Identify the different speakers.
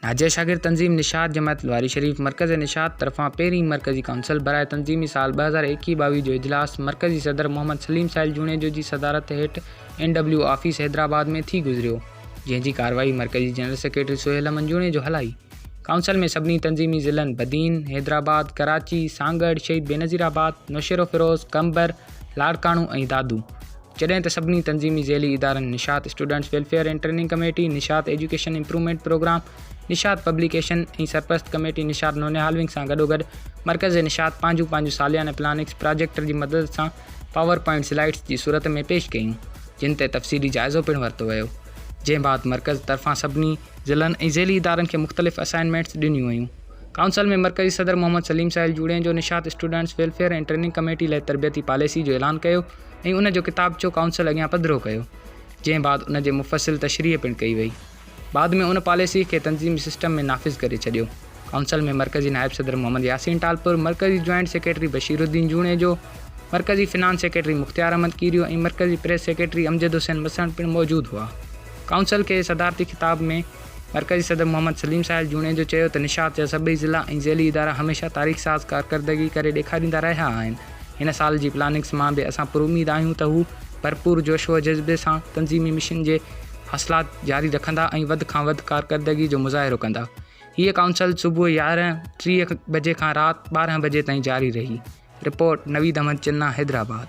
Speaker 1: ناجي شاگرد تنظيم نشاط جماعت لواري شريف مرڪز نشاط طرفان پهرين مرڪزي ڪائونسل برائي تنظيمي سال ٻه هزار ايڪيهه ٻاويهه جو اجلاس مرڪزي صدر محمد سليم سائل جوڻيجو جي صدارت هيٺ اين ڊبليو آفيس حيدرآباد ۾ ٿي گذريو جنهن جي ڪارروائي مرڪزي جنرل سيڪريٽري سهيل امن جوڻيجو هلائي ڪائونسل ۾ سڀني تنظيمي ضلعن بدين حيدرآباد ڪراچي سانگهڙ شهيد بينظير آباد نوشهروفيروز قمبر لاڙڪاڻو ۽ دادو جڏهن ته سڀني تنظيمي ذيلي ادارن Nishat students welfare and training committee, Nishat education improvement program, Nishat publication ۽ سرپرست ڪميٽي نشاط نونيهالونگ سان گڏوگڏ مرڪز نشاط پنهنجون پنهنجون ساليانه پلاننگس پراجيڪٽر جي مدد سان پاور پوائنٽ سلائيڊس جي صورت ۾ پيش ڪيون جن تي تفصيلي جائزو پڻ ورتو ويو جنهن بعد مرڪز طرفان سڀني ضلعن ۽ ذيلي ادارن کي مختلف اسائنمينٽس ڏنيون ويون ڪائونسل ۾ مرڪزي صدر Muhammad Saleem Sahil Junejo Nishat students welfare and training committee لاء تربيتي پاليسي جو اعلان ڪيو ۽ ان جو ڪتابچو ڪائونسل اڳيان پڌرو ڪيو، جنهن بعد ان جي مفصل تشريح پڻ ڪئي وئي. بعد ۾ ان پاليسيء کي تنظيمي سسٽم ۾ نافذ ڪري ڇڏيو. ڪائونسل ۾ مرڪزي نائب صدر محمد ياسين ٽالپر، مرڪزي جوائنٽ سيڪريٽري بشير الدين جوڻيجو، مرڪزي فنانس سيڪريٽري مختيار احمد ڪيريو ۽ مرڪزي پريس سيڪريٽري امجد حسين مسڻ پڻ موجود هئا. ڪائونسل کي صدارتي خطاب ۾ مرڪزي صدر محمد سليم ساحل جوڻيجو چيو ته نشاط جا سڀئي ضلعا ۽ ذيلي ادارا هميشه تاريخ ساز ڪارڪردگي ڪري ڏيکاريندا رهيا آهن، هن سال جي پلاننگس مان به اسان پراميد آهيون ته هو ڀرپور جوش و جذبي سان تنظيمي مشن جي حاصلات جاري رکندا ۽ وڌ کان وڌ ڪارڪردگي جو مظاهرو ڪندا. هيء ڪائونسل صبح يارهن ٽيهه بجي کان رات ٻارهن بجي تائين جاري رهي. رپورٽ، نويد احمد چنا، حيدرآباد.